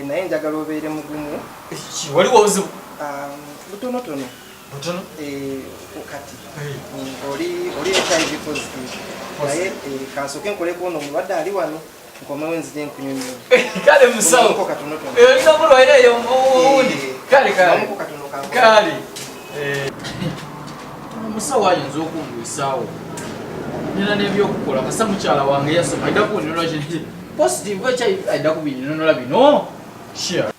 naye njagala obeere mugumu waliwo obuzibu um, butonotono butono eh, kati eh. Mm, oli oli ekyali bikozitivu naye eh, kansoke nkoleko ono omulwadde ali wano nkomewo nzije nkunyonyola kale musawo olina bulwaire eyo owundi kale kale kale omusawo eh. ayinza okungwisaawo nina nebyokukola kasa mukyala wange yasoma aida kunyonyola positive ekyo aida kubinyonyola bino sure